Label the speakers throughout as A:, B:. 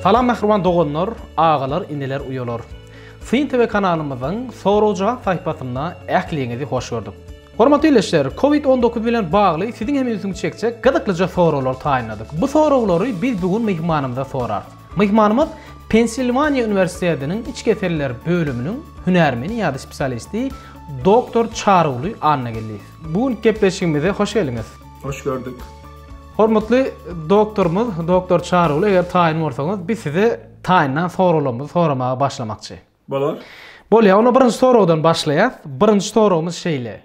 A: Salam mähriban doganlar, agalar, ineler, uýalar! Syn TV kanalymyzyň sorag-jogap sahypasynda ähliňizi hoş gördük. Hormatly ildeşler, Covid on dokuz bilen bagly siziň hem ünsüňizi çekjek gyzyklyja soraglar taýynladyk. Bu soraglary biz bu gün myhmanymyza sorarys. Myhmanymyz Pensilwaniýa uniwersitetiniň iç keseller bölüminiň hünärmeni ýa-da spesialisti, doktor Çaryguly Annageldiýew. Bu günki gepleşigimize hoş geldiňiz. Hoş gördük. Hormatly doktorymyz, doktor Çaryguly, eger taýyn bolsaňyz, biz size taýyndan soraglarymyzy soramaga başlamakçy. Bolar. Bolýar. Onda birinji soragdan başlaýas. Birinji soragymyz şeýle.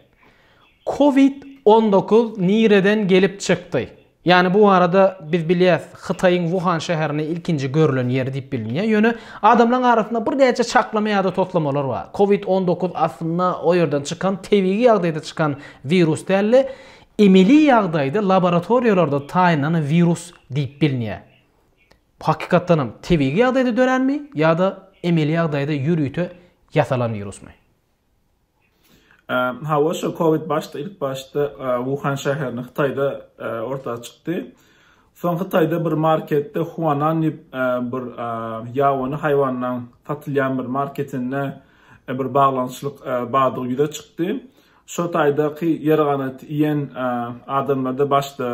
A: Covid on dokuz nireden gelip çykdy? Ýani bu barada biz bilýäs Hytaýyň Wuhan şäherinde ilkinji görülen ýeri diýip bilinýär. Ýöne adamlaryň arasynda bir näçe çaklama ýa-da toslamalar bar. Covid on dokuz aslynda o ýerden çykan tebigy ýagdaýda çykan wirus däldi. Emeli ýagdaýda laboratoriýalarda taýynlanan wirus diýip bilinýär. Bu hakykatdanam tebigy ýagdaýda döränmi ýa-da emeli ýagdaýda ýörite ýasalan wirusmy? Hawa, şo covid başda ilk başda Wuhan şäherinde Hytaýda orta çykdy. Soň Hytaýda bir marketde Huanan diýip bir ýabany haýwanlaryň satylýan bir marketinde bir baglanyşyk bardygy ýüze çykdy. Şo taýdaky ýer ganaty iýen adamlarda başda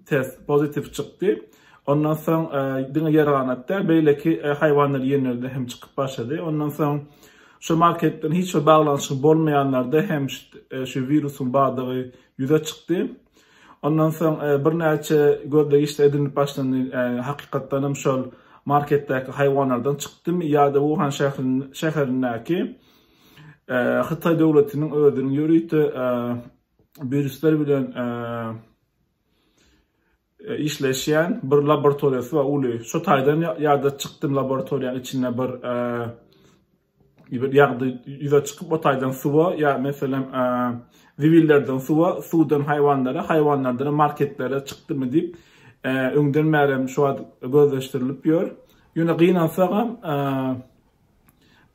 A: test pozitiw çykdy. Ondan soň e, diňe ýerganat däl, beýleki e, haýwanlar ýenlerde hem çykyp başlady. Ondan soň şu marketden hiç bir baglanyşygy bolmaýanlarda hem e, şu wirusyň bardygy ýüze çykdy. Ondan soň birnäçe gözlegiçler edinip başlandy. Hakykatdan hem şol marketdäki haýwanlardan çykdymy ýa-da Wuhan şäherindäki Hytaý döwletiniň özüniň ýörite wirisler bilen işleşýän bir laboratoriýasy bar uly. Şu taýdan ýada çykdym laboratoriýanyň içinde bir bir ýagdy ýüze çykyp o taýdan suwa ýa meselem zibillerden suwa, suwdan haýwanlara, haýwanlardan marketlere çykdymy diýip öňden bäri hem şu wagt gözleşdirilip ýör. Ýöne gynansagam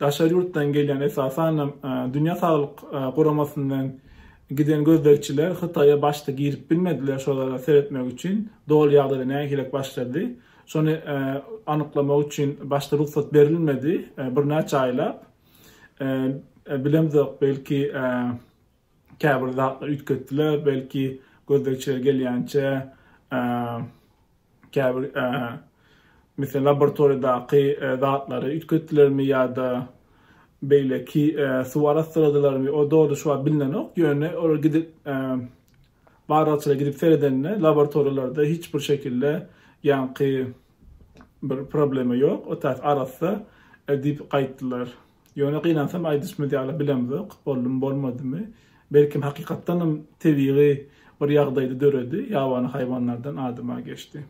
A: Daşary ýurtdan gelýän, esasanam Dünýä saglyk guramasyndan giden gözlegçiler Hytaýa başda girip bilmediler, şolara seretmek üçin doly ýagdaýda nähilek başlady, şony anyklamak üçin başda rugsat berilmedi, birnäçe aýlap, bilemzok, belki, Käbir zatlar üýtgetdiler, belki gözlegçiler gelýänçä käbir meselem laboratoriýadaky zatlary üýtgetdilermi ýa-da beýleki suw arassaladylarmy o dogry şu wagt bilnenok, ýöne olar gidip barlagçylar gidip seredende laboratoriýalarda hiç bir şekilde ýaňky bir problema ýok, otaz arassa diýip gaýtdylar. Ýöne gynansam aýdyşymyz ýaly bilemzok, boldumy bolmadymy, belkem hakykatdanam tebigy bir ýagdaýda döredi, ýabany haýwanlardan adama geçdi.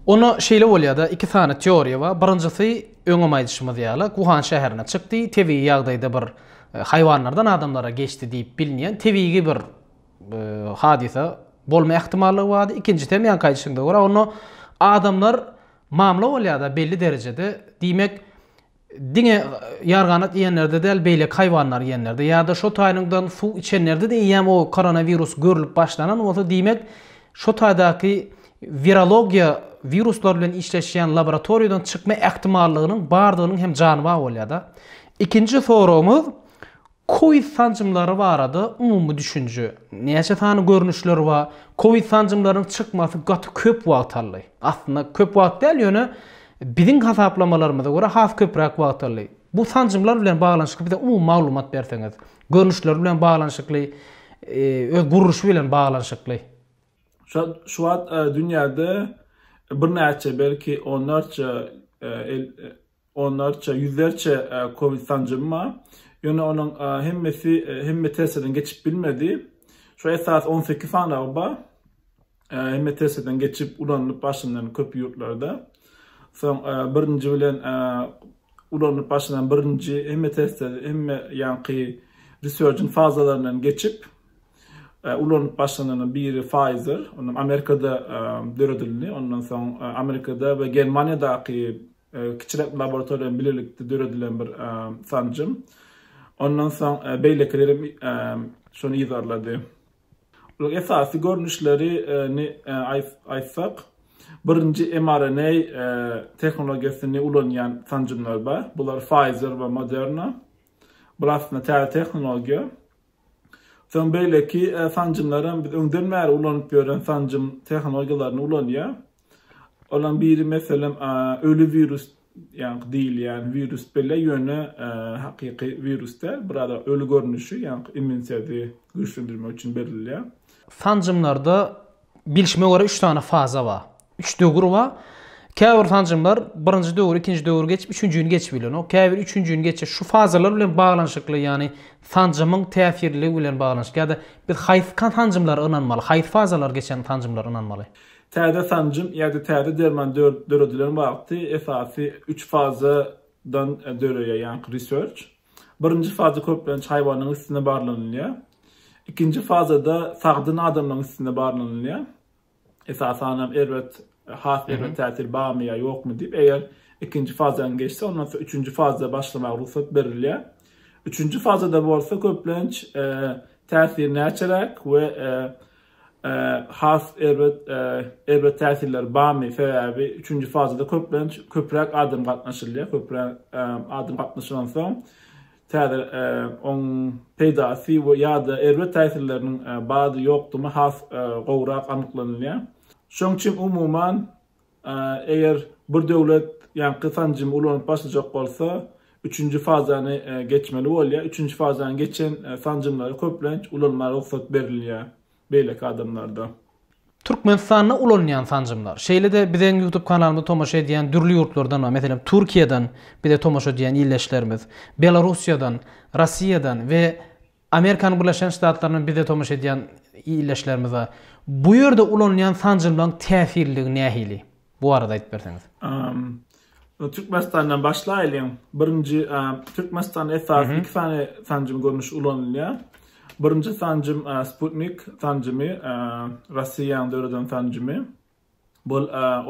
A: Onda şeýle bolýada iki sany teoriýa bar, birinjisi öňem aýdyşymyz ýaly Wuhan şäherine çykdy, tebigy ýagdaýda bir haýwanlardan adamlara geçdi diýip bilinýän tebigy bir hadysa bolma ähtimallygy bardy, ikinjisi hem ýaňky aýdyşyňda görä onda adamlar mamla bolýada belli derejede, diýmek Diňe ýarganat iýenlerde däl, beýleki haýwanlar iýenlerde ýa-da şo taýynyňdan suw içenlerde-de eýýäm o koronawirus görülip başlanan bolsa, diýmek, şo taýdaky wirologiýa wiruslar bilen işleşýän laboratoriýadan çykma ähtimallygynyň bardygynyň hem jany ba bolýar-da. Ikinji soragymyz, Covid sanjymlary barada umumy düşünje. Näçe sany görnüşler bar? Covid sanjymlarynyň çykmasy gaty köp wagt aldy. Aslynda köp wagt däl, ýöne biziň hasaplamalarymyza görä has köpräk wagt aldy. Bu sanjymlar bilen baglanyşykly bize umumy maglumat berseňiz. Görnüşleri bilen baglanyşykly, öz gurluşy bilen baglanyşykly. Şu wagt dünýäde birnäçe belki onlarça Onlarça, ýüzlerçe covid sanjym bar. Ýöne onuň hemmesi hemme testlerden geçip bilmedi. Şu esasy on sekiz sanawy bar. Hemme testlerden geçip ulanylyp başlanan köp ýurtlarda. Soň birinji bilen ulanylyp başlanan birinji hemme testler hemme ýaňky resurgent fazalaryndan geçip ulanylyp başlananyň biri Pfizer, onam Amerikada döredildi. Ondan soň Amerikada we Germaniýadaky Kiçiräk laboratoriýa bilen bilelikde döredilen bir sanjym. Ondan soň beýlekiler hem şony yzarlady. Olaryň esasy görnüşlerini aýtsak, birinji mRNA tehnologiýasyny ulanýan sanjymlar bar. Bular Pfizer we Moderna. Bular aslynda täze tehnologiýa. Soň beýleki sanjymlaram biz öňden bäri ulanyp ýören sanjym tehnologiýalaryny ulanýar. Olaryň biri meselem öli wirus ýaňky diýilýän wirus bile ýöne hakyky wirus däl, biraz öli görnüşi ýaňky immuniteti güýçlendirmek üçin berilýär. Sanjymlarda bilşime görä üç sany faza bar. Üç döwür bar. Käbir sanjymlar birinji döwür, ikinji döwür geçip, üçünjini geçip bilenok. Käbir üçünjini geçip, şu fazalar bilen baglanyşykly, ýagny sanjymyň täsirliligi bilen baglanyşykly ýa-da biz haýsy sanjymlara ynanmaly, haýsy fazalar geçen sanjymlara ynanmaly? Täze sanjym ýa-da täze derman döredilen wagty esasy üç fazadan döreýär, ýaňky research. Birinji faza köplenç haýwanyň üstünde barlanylýar. Ikinji fazada sagdyn adamlaryň üstünde barlanylýar. esasanam erbet, has erbet täsir barmy ýa ýokmy diýip, eger ikinji fazaň geçse, ondan soň üçünji faza başlamaga rugsat berilýär. Üçünji fazada bolsa köplenç täsir näçeräk we has erbet erbet täsirler barmy? Sebäbi üçünji fazada köplenç köpräk adam gatnaşylýar, köpräk adam gatnaşylansoň, Täze oň peýdasy we ýa-da erbet täsirleriniň bady ýokdugyny has gowrak anyklanylýar. Şoň üçin umuman, eger bir döwlet ýaňky sanjymy ulanyp başlajak bolsa, üçünji fazany geçmeli bolýar. Üçünji fazany geçen sanjymlara köplenç ulanmaga rugsat berilýär. beýleki adamlarda. Türkmenistanda ulanylýan sanjymlar. Şeýle-de bizeň YouTube kanalymyza tomaşa edýän dürli ýurtlardan we meselem Türkiýeden bize tomaşa edýän ildeşlerimiz, Belarussiýadan, Rossiýadan we Amerikanyň Birleşen Ştatlaryndan bize tomaşa edýän ildeşlerimiz bar. Bu ýerde ulanylýan sanjymlaryň täsirliligi nähili? Bu barada aýdyp berseňiz. Türkmenistandan başlaýlyň. Birinji Türkmenistan esasy iki sany sanjym görnüşi ulanylýar. Birinji sanjym Sputnik sanjymy, Russiýanyň döreden sanjymy. Bu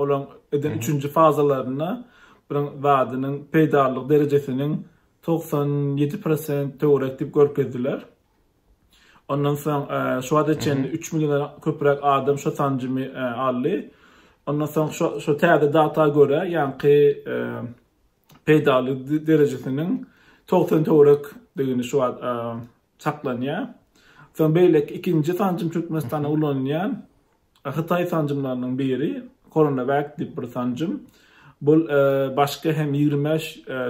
A: olaň eden üçünji fazalarynda bir zadynyň peýdalylyk derejesiniň togsan ýedi prosent töwerek diýip görkezdiler. Ondan soň şu wagta çenli üç milliondan köpräk adam şu sanjymy aldy. Ondan soň şu täze data görä, ýaňky peýdaly derejesiniň togsan töwerekdigini şu wagt saklanýar. Soň beýleki ikinji sanjym Türkmenistanda ulanylýan Hytaý sanjymlarynyň biri CoronaVac diýip bir sanjym. Bu başga hem ýigrimi bäş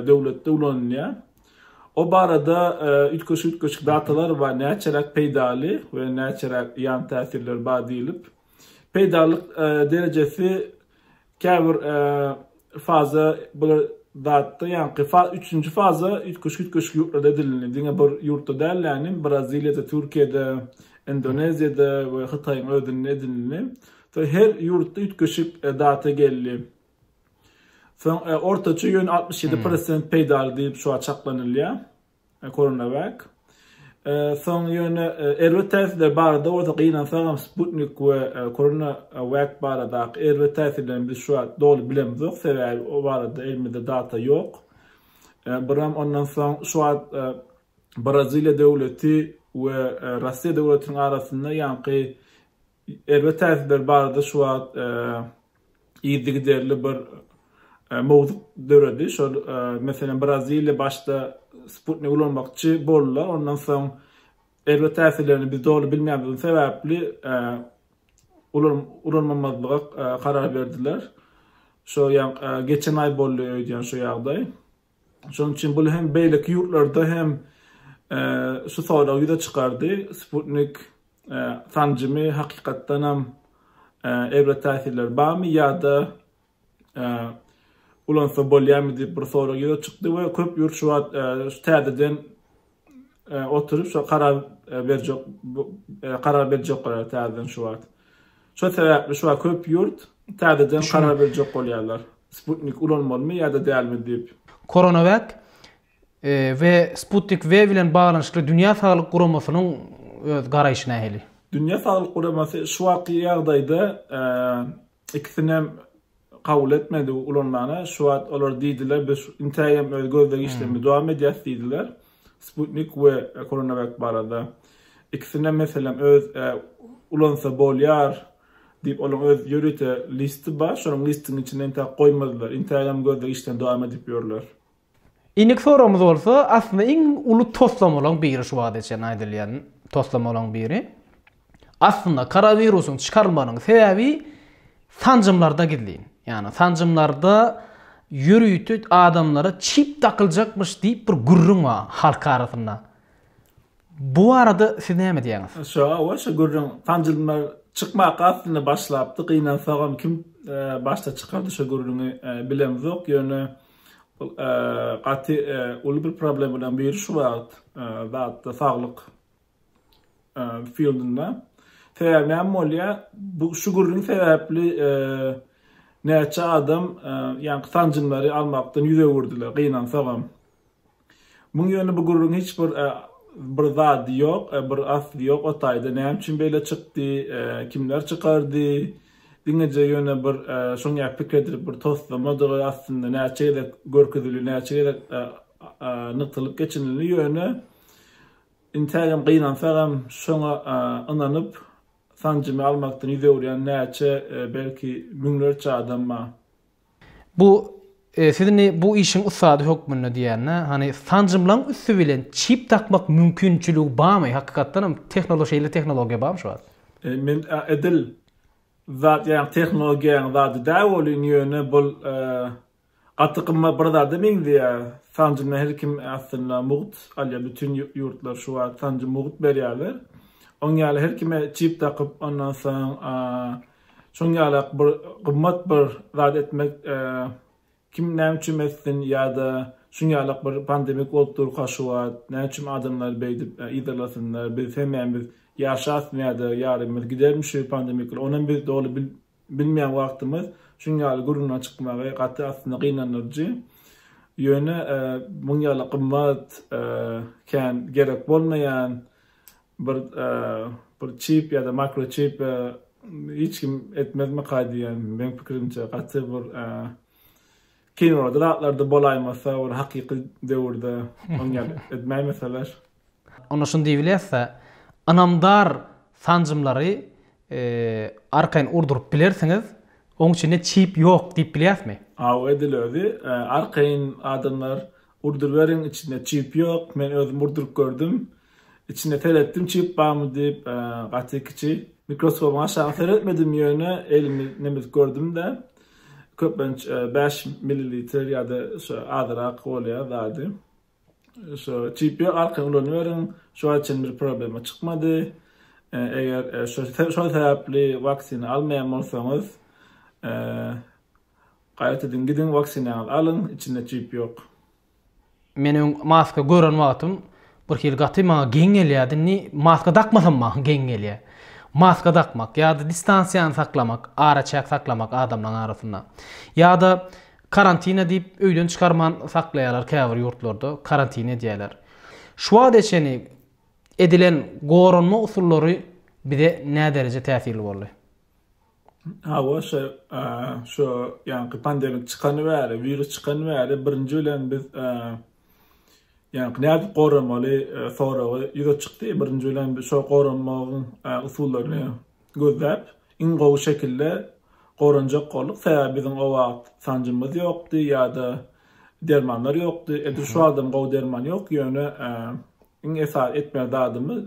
A: döwletde ulanylýar. O barada üýtgeşik-üýtgeşik datalar bar, näçeräk peýdaly we näçeräk ýan täsirleri bar diýlip. Peýdalylyk derejesi Käbir faza bular zatda ýaňky fa üçünji faza üýtgeşik üýtgeşik ýurtlarda edilindi. Diňe bir ýurtda däl ýanym Braziliýada, Türkiýede, Indoneziýada we Hytaýyň özünde edilindi. Soň her ýurtda üýtgeşik e, data geldi. Soň e, ortaça ýöne 67% hmm. peýdaly diýip şu an çaklanylýar. Koronawak. Soň ýöne erbet täsirler barada bolsa gynansagam Sputnik we Koronawak baradaky erbet täsirlerini biz şu wagt doly bilemizok, sebäbi o barada elimizde data ýok. Buram ondan soň şu wagt Braziliýa döwleti we Russiýa döwletiniň arasynda ýaňky Erbet täsirleri barada şu wagt yzygiderli bir mowzuk döredi. Şol, meselem, Braziliýa başda sputnik ulanmakçy boldular, ondan soň erbet täsirlerini biz doly bilmeýändigimiz sebäpli ulanmamazlyga karar berdiler. Şo, ýa geçen aý boldy öýdýän şu ýagdaý. Şonuň üçin bul hem beýleki ýurtlarda hem şu sorag ýüze çykardy, Sputnik sanjymy hakykatdanam erbet täsirleri barmy ýa-da ulansa bolýarmy diýip bir sorag ýüze çykdy we köp ýurt şu wagt şu täzeden oturyp şo karar berjek karar berjekler täzeden şu wagt. Şo sebäpli şu wagt köp ýurt täzeden karar berjek bolýarlar. Sputnik ulanmalymy ýa-da dälmi diýip. Coronavac we Sputnik V bilen baglanyşykly Dünýä Saglyk Guramasynyň öz garaýşy nähili? Dünýä Saglyk Guramasy şu wagtky ýagdaýda ikisinem kabul etmedi ulanmana. Şu wagt olar diýdiler, biz intägem öz gözleg işlerimizi dowam edýäris diýdiler. Sputnik we CoronaVac barada. Ikisinem meselem öz ulansa bolýar diýip olaryň öz ýörite listi bar. Şonuň listiniň içinde intäk goýmadylar. Intägem gözleg işlerini dowam edip ýörler. Indiki soragymyz bolsa aslynda iň uly toslamalaryň biri şu wagta çenli aýdylýan toslamalaryň biri. Aslynda koronawirusyň çykarylmagynyň sebäbi sanjymlarda gizlin. Ýagny sanjymlarda ýörite adamlara çip dakyljakmyş diýip bir gürrüň bar halk arasynda. Bu barada siz näme diýýäňiz? Şo hawa şo gürrüň sanjymlar çykmaka aslynda başlapdy. Gynansagam kim başda çykardy şo gürrüňi bilemzok. Ýöne Bul gaty uly bir problemadan biri şu wagt zatda saglyk fildinde. Sebäbi näme bolýa? Bu şu gürrüň sebäpli näçe adam ýaňky sanjymlary almakdan ýüz öwürdiler, gynansagam. Muň ýöne bu gürrüň hiç bir bir zady ýok bir asly ýok o taýda näme üçin beýle çykdy kimler çykardy diňeje ýöne bir şoň ýaly pikir edilip bir toslamadygy aslynda näçe gezek görkezildi näçe gezek nygtalyp geçinildi ýöne intägem gynansagam şoňa ynanyp sanjymy almakdan ýüz öwürýän näçe belki müňlerçe adam bar Bu siz indi bu işiň ussady hökmünde diýende, hany sanjymlaň üsti bilen çip dakmak mümkinçiligi barmy? Hakykatdan hem tehnolo şeýle tehnologiýa barmy şu wagt? Men edil zat ýaňy tehnologiýanyň zady däl welin ýöne bul gaty gymmat bir zada meňzeýär. Sanjymdan her kim aslynda mugt alýar. Bütin ýurtlar şu wagt sanjym mugt berýärler. Oň ýaly her kime çip dakyp ondan soň Şoň ýalak bir gymmat bir zat etmek kim näme üçin etsin ýa-da şoň ýalak bir pandemik bolup durka şu wagt näme üçin adamlar beýdip yzarlasynlar biz hemmämiz biz ýaşasmy ýa-da ýarymyz gidermi şu pandemik onam biz doly bilmeýän wagtymyz şoň ýaly gürrüňe çykmagy gaty aslynda gynandyryjy ýöne muň ýaly gymmat kän gerek bolmaýan Bir bir çip ýa-da makroçip hiç kim etmezmika diýýän meň pikirimçe gaty bir kinoda zatlarda bolaýmasa bir hakyky döwürde oň ýaly etmäýmeseler. Onda şuny diýibilýäsda ynamdar sanjymlary arkaýyn urduryp bilersiňiz oň içinde çip ýok diýip bilýäsmi? Hawa edil özi arkaýyn adamlar Urduriberiň içinde çip ýok men özüm urduryp gördüm içine seretdim çip barmy diýip gaty kiçi mikroskobyň aşagyna seretmedim ýöne elimi nemes gördümde köplenç bäş millilitr ýada şo azyrak bolýa zady şo çip ýok arkaýyn ulanyberiň şu wagta çenli bir problema çykmady eger şo sebäpli waksina almaýan bolsaňyz Gaýtadan gidiň waksinaňyz alyň içinde çip ýok. Men öň maska gören wagtym birhili gaty maňa geň gelýärdi indi maska dakmasam maňa geň gelýär. Maska dakmak ýa-da distansiýany saklamak araçäk saklamak adamlaň arasynda. Ýa-da karantina diýip öýden çykarman saklaýarlar käbir ýurtlarda karantin edýärler. Şu wagta çenli edilen goranma usullary bize nädereje täsirli boldy? Hawa, şu, şu ýaňky pandemik çykany bäri, wirus çykany bäri birinji bilen biz ýaňky nädip goramaly soragy ýüze çykdy. Birinji bilen biz şo goranmagyň usullaryny gözläp, iň gowy şekilde goranjak bolduk. Sebäbi biziň o wagt sanjymyz ýokdy ýa-da dermanlar ýokdy. Edil şu wagtam gowy derman ýok, ýöne Iň esasy etmeli zadymyz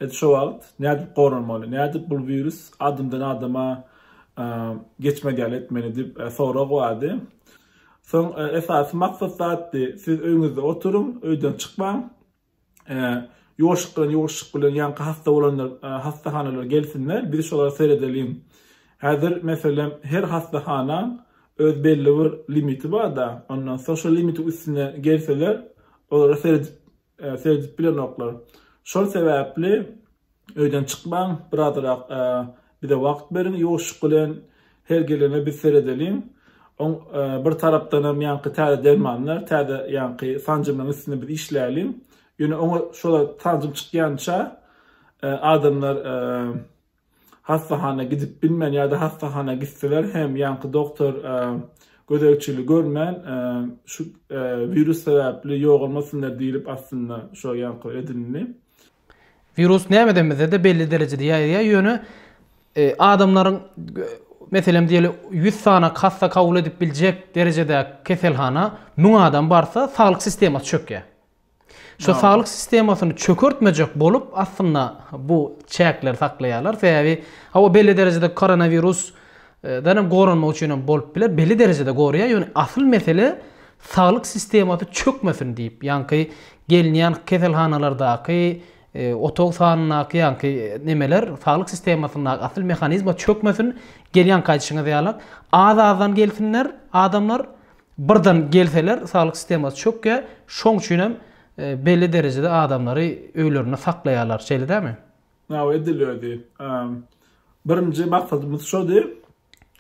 A: biz şu wagt nädip goranmaly, nädip bul wirus adamdan adama geçmez ýaly etmeli diýip sorag bardy. Soň esasy maksat zatdy, siz öýüňizde oturyň, öýden çykmaň. Ýuwaşlyk bilen ýuwaşlyk bilen ýaňky hassa bolanlar hassahanalara gelsinler, biz şolara seredeliň. Häzir meselem her hassahananyň öz belli bir limiti barda, ondan soň şo limitiň üstüne gelseler, olara seredip Seredip bilenoklar. Şol sebäpli öýden çykmaň, birazrak bize wagt beriň, ýuwaşlyk bilen her gelene biz seredeliň. Oň bir tarapdanam ýaňky täze dermanlar, täze ýaňky sanjymlaryň üstünde biz işläliň. Ýöne oňa şolar sanjym çykýança adamlar hassahana gidip bilmän ýa-da hassahana gitseler hem ýaňky doktor gözegçili görmän şu wirus sebäpli ýogalmasynlar diýlip aslynda şo ýaňky edilindi. Wirus nämeden bizede belli derejede ýaýraýar ýöne adamlaryň meselem diýeli ýüz sany hassa kabul edip biljek derejedäki keselhana müň adam barsa saglyk sistemasy çökýär. Şu saglyk sistemasyny çökertmejek bolup, aslynda bu çäkleri saklaýarlar. Sebäbi hawa belli derejede koronawirus dan hem goranmak üçin hem bolup biler. Belli derejede goraýar, ýöne asyl mesele saglyk sistemasy çökmesin diýip, ýaňky gelinýän keselhanalardaky otag sanyndaky ýaňky nemeler saglyk sistemasyndaky asyl mehanizma çökmesin. Gelýän gaýdyşyňyz ýaly az-azdan gelsinler adamlar, Birden gelseler saglyk sistemasy çökýär, şoň üçin hem belli derejede adamlary öýlerinde saklaýarlar, şeýle dämi? Hawa edilýärdi. Birinji maksadymyz şody.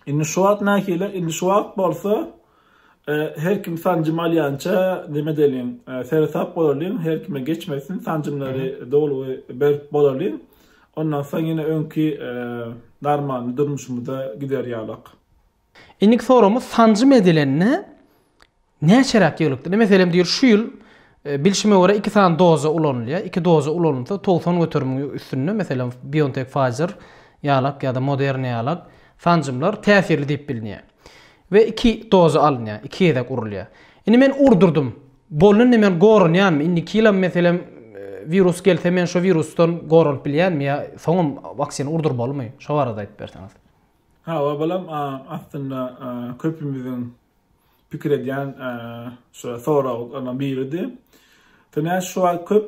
A: Indi şu wagt nähili? Indi şu wagt bolsa her kim sanjym alýança neme edeliň, seresap bolalyň, her kime geçmesin, sanjymlary doly berip bolalyň. Ondan soň ýene öňki normal durmuşymyza gider ýalyk. Indiki soragymyz sanjym edilende näçeräk ýyglykdyr? Meselem diýir şu ýyl bilşime görä iki sany doza ulanylýar. Iki doza ulanylsa togsan göterimiň üstünde meselem Biontech Pfizer ýalak ýa-da Moderna ýalak sanjymlar täsirli diýip bilinýär. We iki doza alynýar, iki gezek urulýar. Indi men urdurdym. Bolnynda men goranýanmy? Indiki ýylam meselem wirus gelse men şo wirusdan goranyp bilýänmi ýa soňam waksina urdurmalymy? Şo barada aýdyp berseňiz. Hawa balam aslynda köpümiziň pikir edýän şo soraglaryň biridi. Töne şu wagt köp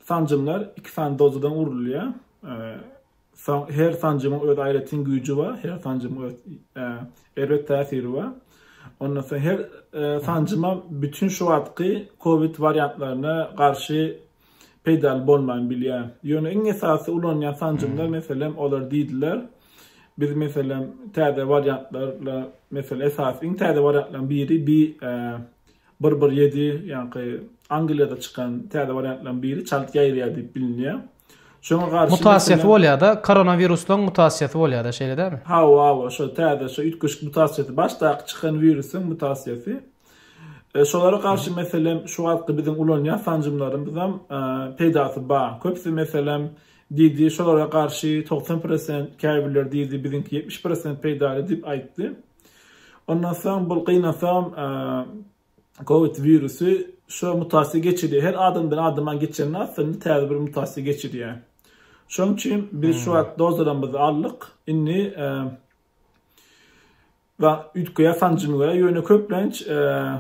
A: sanjymlar iki sany dozadan urulýar. Her sanjymyň öz aýratyn güýji bar, her sanjymyň öz erbet täsiri bar. Ondan soň her sanjyma bütin şu wagtky covid wariantlaryna garşy peýdaly bolman bilýär. Ýöne iň esasy ulanýan sanjymlar meselem olar diýdiler. Biz meselem täze wariantlarla meselem esasy iň täze wariantlaryň biri bi bir bir ýedi ýaňky Angliýada çykan täze wariantlaryň biri çalt ýaýraýar diýip bilinýär. Şoňa garşy Mutasiýasy bolýar-da, koronawiruslygyň mutasiýasy bolýar-da, şeýle dälmi? Hawa, hawa, şo täze, şo üýtgeşik mutasiýasy, başdaky çykan wirusyň mutasiýasy. Şolara garşy meselem şu wagtky biziň ulanýan sanjymlarymyzam peýdasy bar. Köpüsi meselem diýdi, şolara garşy togsan prosent, käbirleri diýdi biziňki ýetmiş prosent peýdaly diýip aýtdy. Ondan soň bul gynansagam covid wirusy şo mutasiýa geçirýär. Her adamdan adama geçende aslynda täze bir mutasiýa geçirýär. Şonuň üçin biz şu wagt dozalarymyzy aldyk. Indi we üýtgeýär sanjym we ýöne köplenç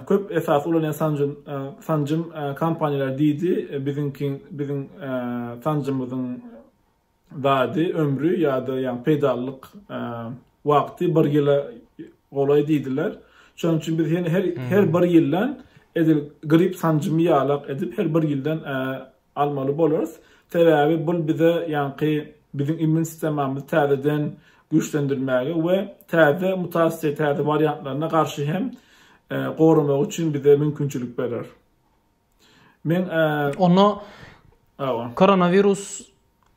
A: köp esasy ulanýan sanjym sanjym kompaniýalar diýdi biziňki biziň sanjymyzyň dady ömri ýa-da ýagny peýdalylyk wagty bir ýyla golaý diýdiler şonuň üçin biz her her bir ýyldan edil grip sanjymy ýalak edip her bir ýyldan almaly bolarys. Sebäbi bul bize ýaňky biziň immun sistemamyzy täzeden güýçlendirmäge we täze mutasiýa, täze wariantlaryna garşy hem goramagy üçin bize mümkinçilik berer. Men Onda Awa. Koronawirus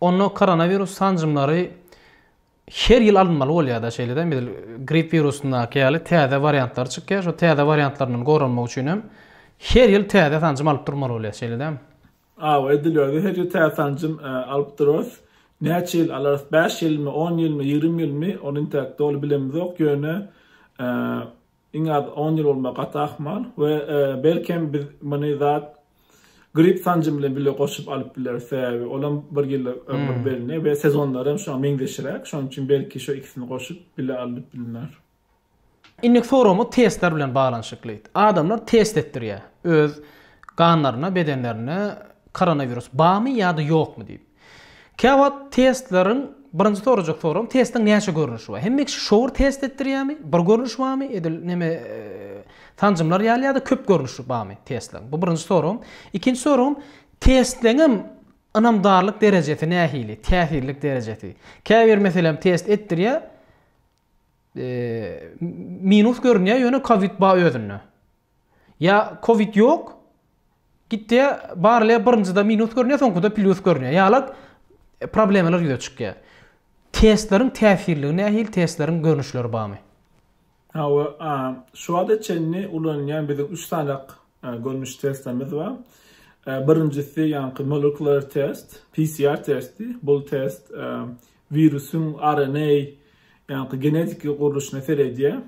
A: Onda koronawirus sanjymlary Her ýyl alynmaly bolýar-da şeýle-de edil gripp wirusyndaky ýaly täze wariantlary çykýar. Şo täze wariantlaryndan goranmak üçin hem her ýyl täze sanjym alyp durmaly bolýar şeýle-de. Hawa edilýär-de her ýyl täze sanjym alyp durarys. Näçe ýyl alarys bäş ýylmy on ýylmy ýigrimi ýylmy ony intäk doly bilemizok ýöne Iň az on ýyl bolmaga gaty ahmal we belkem biz muny zat grip sanjym bilen bile goşup alyp bileris, sebäbi olam bir ýyla ömür belli we sezonlary hem şoňa meňzeşiräk, şonuň üçin belki şu ikisini goşup bile alnyp bilner. Indiki soragymyz testler bilen baglanyşykly. Adamlar test etdirýär öz ganlaryna, bedenlerine koronawirus barmy ýa-da ýokmy diýip. Käwagt testleriň birinji sorajak soram testiň näçe görnüşi bar? Hemme kişi şowur test etdirýämi? Bir görnüş barmy? Edil neme sanjymlar ýaly ýa-da köp görnüşi barmy testleriň? Bu birinji soram. Ikinji soram testleňem ynamdarlyk derejesi nähili? Täsirlik derejesi. Käbir meselem test etdirýä minus görünýä ýöne kowid bar özünde. Ýa covid ýok, gitdiýä barylýa birinjide minus görünýä soňkuda plyus görünýä ýaly problemalar ýüze çykýa. Testleriň täsirligi nähili testleriň görnüşleri barmy? Hawa a şu wagta çenli ulanylýan biziň üç sanak görnüş testlerimiz bar. Birinjisi ýaňky molekular test, PCR testi. Bul test wirusyň RNA ýaňky genetiki gurluşyna seredýä.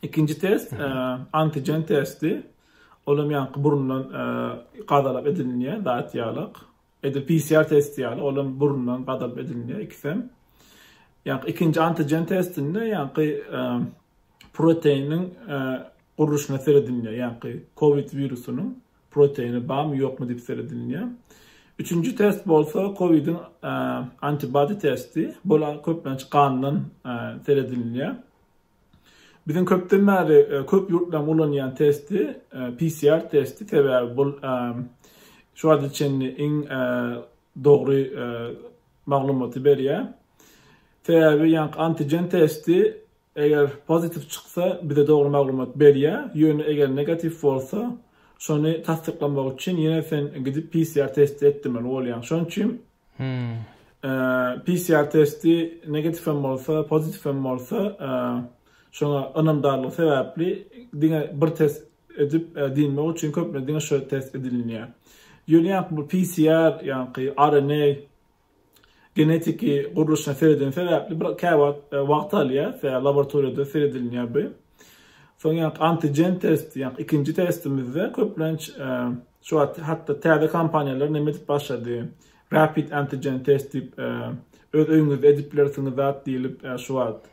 A: Ikinji test antigen testi. Ol hem ýaňky burundan gadalap edilýän zat ýalak. Edil PCR testi ýaly, ol hem burundan gadalap edilýär ikisem. Ýaňky ikinji antigen testinde ýaňky proteiniň gurluşyna seredilýär. Ýaňky COVID wirusynyň proteini barmy, ýokmy diýip seredilýär. Üçünji test bolsa COVID-iň antibody testi. Bol köplenç gandan seredilýär. Biziň köpden bäri köp ýurtlaryň ulanýan testi PCR testi, sebäbi bul şu wagta çenli iň dogry maglumaty berýär. Sebäbi ýaňky antigen testi eger pozitiw çyksa bize dogry maglumat berýär, ýöne eger negatiw bolsa şony tassyklamak üçin ýene sen gidip PCR testi etdirmeli bolýaň. Şonuň üçin PCR testi negatif hem bolsa, pozitif hem bolsa, şoňa ynamdarlygy sebäpli diňe bir test edip diýmek üçin köplenç diňe şu test edilýär. Ýöne ýa bu PCR, ýa-ni RNA genetiki gurluşyna seredilýän sebäpli bir käwagt wagt alýar, sebäbi laboratoriýada seredilýär bu. Soň ýa antigen testi, ýa ikinji testimizde köplenç Şu wagt hatda täze kompaniýalar neme edip başlady, rapid antigen test diýip, öz öýüňizde edip bilersiňiz zat diýlip, şu wagt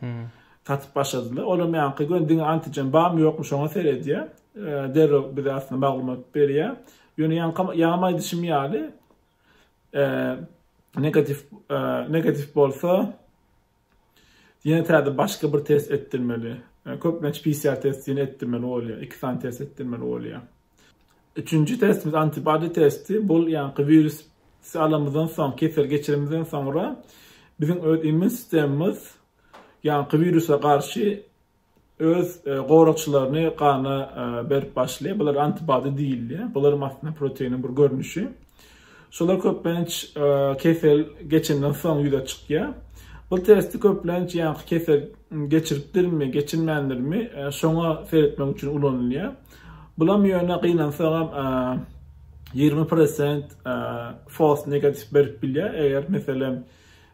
A: satyp başladylar. Olam ýaňky gün diňe antigen barmy, ýokmy şoňa seredýär. Derrew bize aslynda maglumat berýär. Ýöne ýaňky ýaňam aýdyşym ýaly, negatiw, negatiw bolsa, Ýene täze başga bir test etdirmeli. Köplenç PCR testi ýene etdirmeli bolýar. Iki sany test etdirmeli bolýar. Üçünji testimiz antibody testi. Bu ýaňky wirus alamyzdan soň, kesel geçirimizden soňra biziň öz immun sistemimiz ýaňky wirusa garşy öz goragçylaryny gana berip başlaýar. Bular antibody diýilýär. Bularam aslynda proteiniň bir görnüşi. Şolar köplenç kesel geçenden soň ýüze çykýar. Bu testi köplenç ýaňky kesel geçiripdirmi, geçirmändirmi, şoňa seretmek üçin ulanylýar. Bulam ýöne gynansagam ýigrimi prosent false negatif berip bilýär. Eger meselem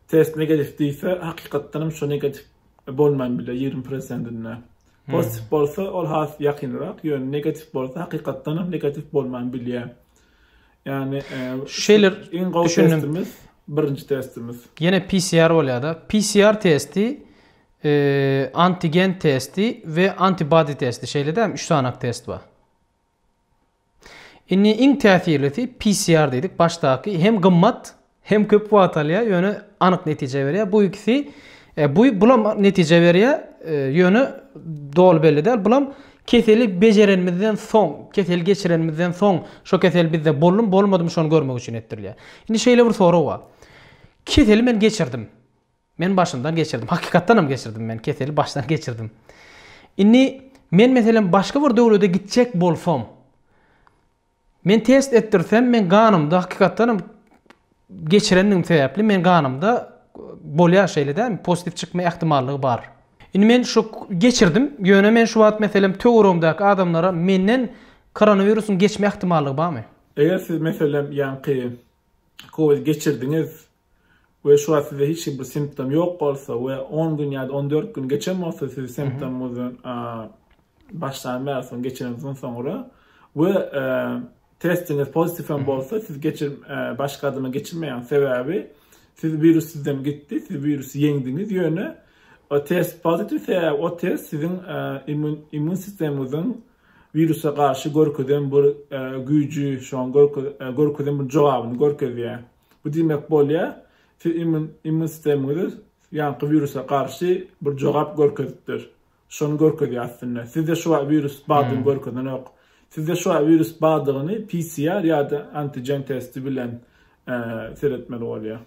A: test negatif diýse, hakykatdanam şo negatif bolman biler ýigrimi prosentinde. Pozitiw bolsa ol has ýakynrak, ýöne negatiw bolsa hakykatdanam negatiw bolman bilýär. Ýagny şeýler iň gowy testimiz birinji testimiz. Ýene PCR bolýar-da. PCR testi, e, antigen testi we antibody testi. Şeýle-de 3 sanak test bar. Indi iň täsirlisi PCR diýdik, başdaky hem gymmat, hem köp wagt alýar, ýöne anyk netije berýär. Bu ikisi e, bu bulam netije berýär, e, ýöne doly belli däl. Bulam keseli bejerenimizden soň, keseli geçirenimizden soň, şo kesel bizde boldum, bolmadymy şony görmek üçin etdirilýär. Indi şeýle bir sorag bar. Keseli men geçirdim. Men başyndan geçirdim. Hakykatdanam geçirdim men keseli başdan geçirdim. Indi men meselem başga bir döwlede gitjek bolsam, men test etdirsem, men ganymda hakykatdanam geçirendigim sebäpli men ganymda bolýar şeýle däl, pozitiw çykma ähtimallygy bar. Indi men şu geçirdim, ýöne men şu wagt meselem töweregimdäki adamlara menden koronawirusyň geçme ähtimallygy barmy? Eger siz meselem ýaňky covid geçirdiňiz, we şu wagt sizde hiç bir simptom ýok bolsa we on gün ýa-da on dört gün geçen bolsa siz simptomyňyzdan başlan bäri soň geçiriňizden soňra we testiňiz pozitiw hem bolsa siz geçir baş gadyma geçirmeýäňiz sebäbi siz wirus sizden gitdi siz wirusy ýeňdiňiz ýöne o test pozitiw sebäbi o test siziň immun immun sistemiňiziň wirusa garşy görkezen bir güýji şoň görkezen bir jogabyny görkezýär Bu diýmek bolýar, siz immun sistemiňizi ýaňky wirusa garşy bir jogap görkezipdir. Şony görkezýär aslynda. Sizde şu wagt wirus bardygyny görkezenok. Sizde şu wagt wirus bardygyny PCR ýa-da antigen testi bilen seretmeli bolýar.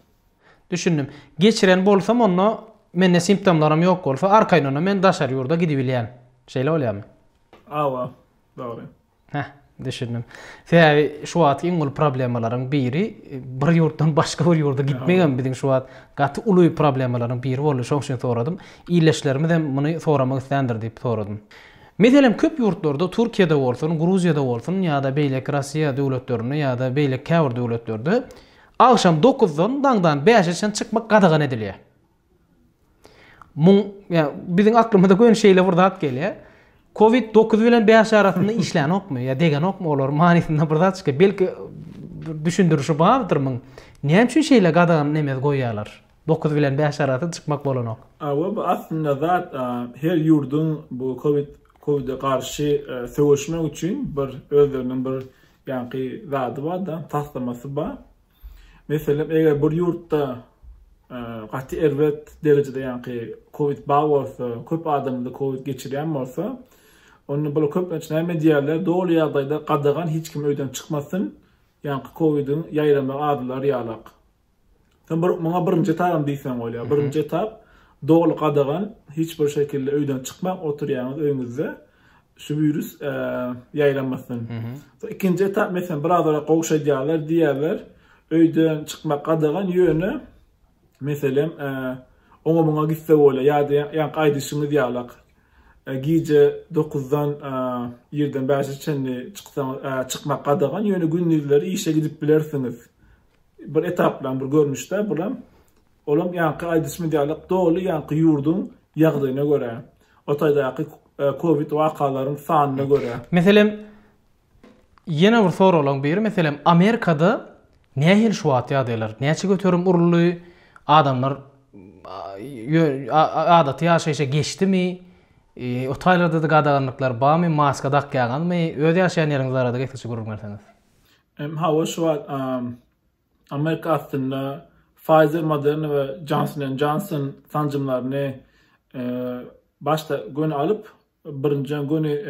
A: Düşündim. Geçiren bolsam onda mende simptomlaram ýok bolsa arkaýyndanam men daşary ýurda gidibilýän. Şeýle bolýarmy? Hawa, dogry. Heh, düşündim. Sebäbi şu wagtky iň uly problemalaryň biri bir ýurtdan başga bir ýurda gitmegem biziň şu wagt gaty uly problemalaryň biri boldy. Şoň üçin soradym. Ildeşlerimiz hem muny soramak isländir diýip soradym. Meselem, köp ýurtlarda, Türkiýede bolsun, Gruziýada bolsun ýa-da beýleki Russiýa döwletlerinde ýa-da beýleki käbir döwletlerde agşam dokuzdan daňdan bäşe çenli çykmak gadagan edilýär. Muň, ýa, biziň aklymyza göni şeýle bir zat gelýär. Covid dokuz bilen bäş arasynda işlänokmy ýa degenokmy olar manysynda bir zat çykýar. Belki bir düşündirişi bardyr muň. Näme üçin şeýle gadagan neme goýýarlar? Dokuz bilen bäş arasy çykmak bolanok. Awa bu aslynda zat her ýurduň bu covid covid-e garşy söweşmek üçin bir özleriniň bir ýaňky zady bar-da, taslamasy bar. Meselem, eger bir ýurtda gaty erbet derejede ýaňky covid bar bolsa, köp adamda covid geçirýän bolsa, onda bular köplenç näme diýýärler, doly ýagdaýda gadagan hiç kim öýden çykmasyn, ýaňky covid-iň ýaýramagy azalar ýalak. Sen bir muňa birinji etap diýseň bolýar. Birinji etap doly gadagan, hiç bir şekilde öýden çykmak, oturýaňyz öýüňizde. şu virus e, ýaýramasyn. So ikinji etap meselem biraz ora gowşadýarlar diýerler. Öýden çykmak gadagan ýöne meselem e, oňa muňa gitse bolýar ýa-da ýa aýdyşymyz ýalak. E, gije 9-dan e, ýerden 5-e çenli çyksaň e, çykmak gadagan ýöne gündizleri işe gidip bilersiňiz. Bir etaplan bir görnüşde bulam Olam ýaňky aýdyşymyz ýaly doly ýaňky ýurduň ýagdaýyna görä, o taýdaky covid wakalaryň sanyna görä. Meselem, ýene bir soraglaň biri, meselem, Amerikada nähili şu wagt ýagdaýlar? Näçe göterim uruldy? Adamlar adaty ýaşaýşa geçdimi? O taýlarda-da gadaganlyklar barmy? Maska dakýaňyzmy? Öz ýaşaýan ýeriňizi arada getiriji gürrüň berseňiz. Hawa, şu wagt Amerika aslynda Pfizer, Moderna we Johnson and Johnson sanjymlaryny başda göni alyp, birinjiden göni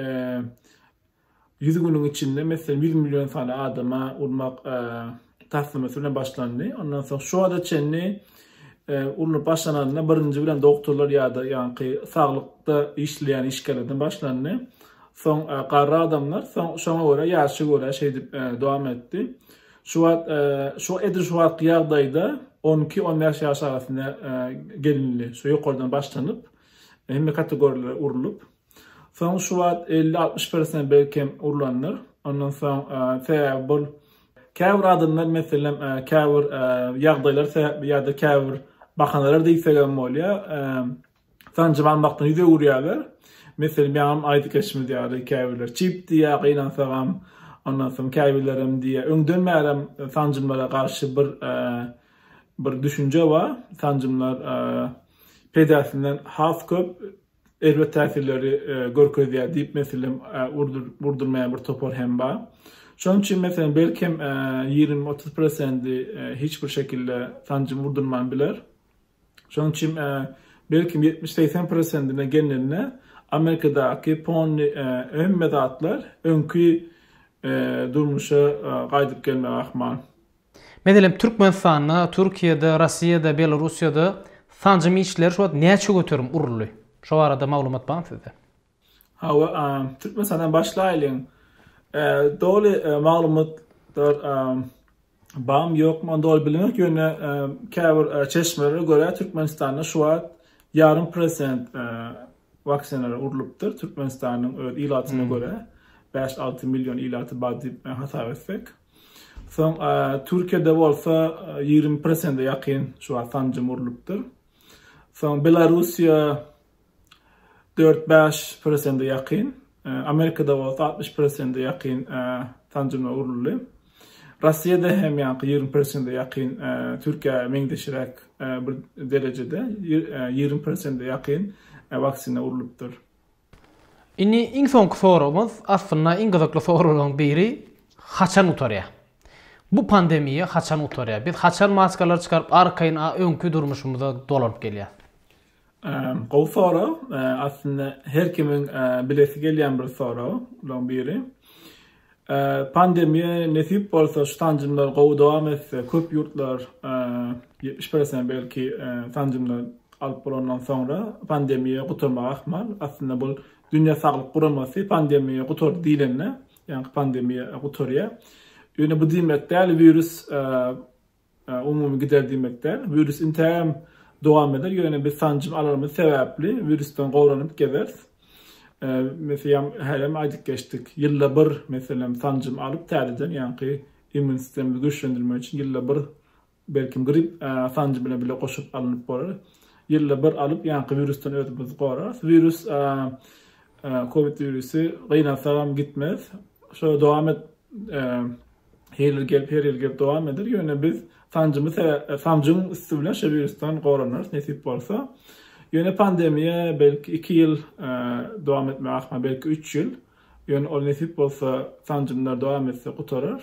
A: 100 günüň içinde meselem 100 million sany adama urmak taslamasy bilen başlandy. Ondan soň şu wagta çenli urnup başlananda birinji bilen doktorlar ýa-da ýaňky saglykda işleýän işgärlerden başlandy. Soň garry adamlar, soň şoňa görä ýaşa görä şeýdip dowam etdi. Şu wagt, şu edil şu wagtky ýagdaýda on iki, on bäş ýaş arasynda gelinli, şu ýokardan başlanyp, hemme kategoriýalara urlup, soň şu wagt elli, altmyş persent belkem urlandyr. Ondan soň sebäbi bol, käbir adamlar, meselem, käbir ýagdaýlar sebäpli ýa-da käbir bahanalar diýsegem bolýar, sanjym almakdan ýüz öwürýärler. Meselem, ýaňam aýdyp geçimiz ýaly, käbirler çip diýýär, gynansagam, ondan soň käbirlerem diýýär, öňden bärem sanjymlara garşy bir bir düşünje bar, sanjymlar peýdasinden has köp erbet täsirleri görkezýär diýip, meselem, urdurmaýan bir topar hem bar. Şonuň üçin, meselem, belkem, ýigrimi-otuz prosenti hiç bir şekilde sanjym urdurman biler. Şonuň üçin belkim ýetmiş-segsen prosentine gelnende Amerikadaky pony hemme zatlar öňki durmuşa gaýdyp gelmegi ahmal. Meselem, Türkmenistanda, Türkiýede, Rossiýada, Belorussiýada sanjym işleri şu wagt näçe göterim uruldy? Şo barada maglumat barmy sizde? Hawa, Türkmenistandan başlaýlyň. Doly maglumatlar barmy, ýokmy, ony doly bilmek, ýöne käbir çeşmelere görä, Türkmenistanda şu wagt ýarym prosent waksinalary urlupdyr, Türkmenistanyň öz ilatyna görä, bäş-alty million ilaty bar diýip hasap etsek. Soň Türkiýede bolsa ýigrimi prosente ýakyn şu wagt sanjym urlupdyr. Soň Belarussiýa, dört-bäş prosente ýakyn, Amerikada bolsa altmyş prosente ýakyn sanjymlar guruldy. Russiýada hem ýaňky ýigrimi prosente ýakyn Türkiýä meňzeşräk bir derejede, ýigrimi prosente ýakyn waksina urlupdyr. Indi iň soňky soragymyz, aslynda iň gyzykly soraglaryň biri, haçan gutarýar? Bu pandemiýa haçan gutarýar? Biz haçan maskalary çykaryp arkaýyn öňki durmuşymyza dolanyp gelýäris? Gowy sorag. Aslynda her kimiň bilesi gelýän bir soraglaryň biri. Pandemiýa nesip bolsa şu sanjymlar gowy dowam etse, köp ýurtlar ýetmiş prosent belki sanjymlar alyp bolandan soňra pandemiýa gutarmagy ahmal. Aslynda bu Dünýä saglyk guramasy pandemiýa gutardy diýlende, ýaňky pandemiýa gutarýar. Ýöne bu diýmek däl wirus Umumy gider diýmek däl. Wirus intäm dowam eder, ýöne biz sanjym alanymyz sebäpli wirusdan goranyp gezeris. Meselem, hälem aýdyp geçdik. Ýylda bir, meselem, sanjym alyp täzeden, ýaňky immun sistemimizi güýçlendirmek üçin ýylda bir belki grip sanjym bilen bile goşup alnyp bolar. Ýylda bir alyp, ýaňky wirusdan özümizi gorarys. Wirus covid wirusy gynalsagam gitmez. Şoýa dowam et Her ýyl gelip, her ýyl gelip dowam eder. Ýöne biz sanjymy sanjyň üsti bilen şu wirusdan goranarys nesip bolsa. Ýöne pandemiýa belki 2 ýyl dowam etme ahmal, belki 3 ýyl. Ýöne ol nesip bolsa sanjymlar dowam etse gutarar.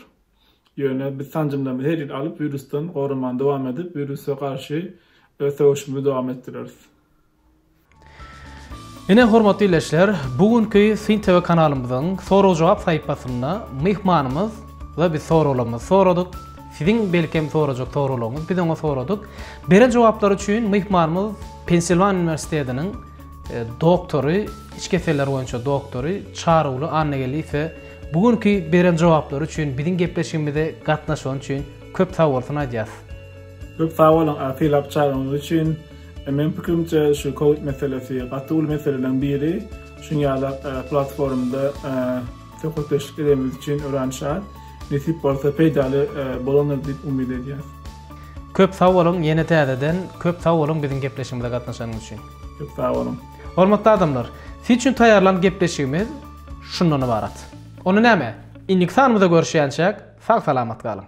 A: Ýöne biz sanjymlarymyzy her ýyl alyp, wirusdan goramany dowam edip, wirusa garşy öz söweşimizi dowam etdireris. Ine, hormatly ildeşler, bu günki Syn TV kanalymyzyň sorag-jogap sahypasynda myhmanymyz we biz soraglarymyzy soradyk. Siziň belkem sorajak soraglaryňyz biz oňa soradyk. Beren jogaplary üçin myhmanymyz Pensilwaniýa uniwersitetiniň doktory, iç keseller boýunça doktory Çaryguly Annageldiýewe bu günki beren jogaplary üçin, biziň gepleşigimize gatnaşany üçin köp sag bolsun aýdýarys. Köp sag boluň, akyl-apjagyňyz üçin. Meniň pikirimçe şu covid meselesi gaty uly meseleleriň biri. Şuň ýaly platformada söhbetdeşlik edemiz üçin örän şat. Nesip bolsa peýdaly bolandyr diýip umyt edýäs. Köp sag boluň ýene täzeden köp sag boluň biziň gepleşigimize gatnaşanyňyz üçin. Köp sag boluň. Hormatly adamlar, siz üçin taýýarlan gepleşigimiz şundan ybarat. Onda näme? Indiki sanymyzda görüşýänçäk sag salamat galyň.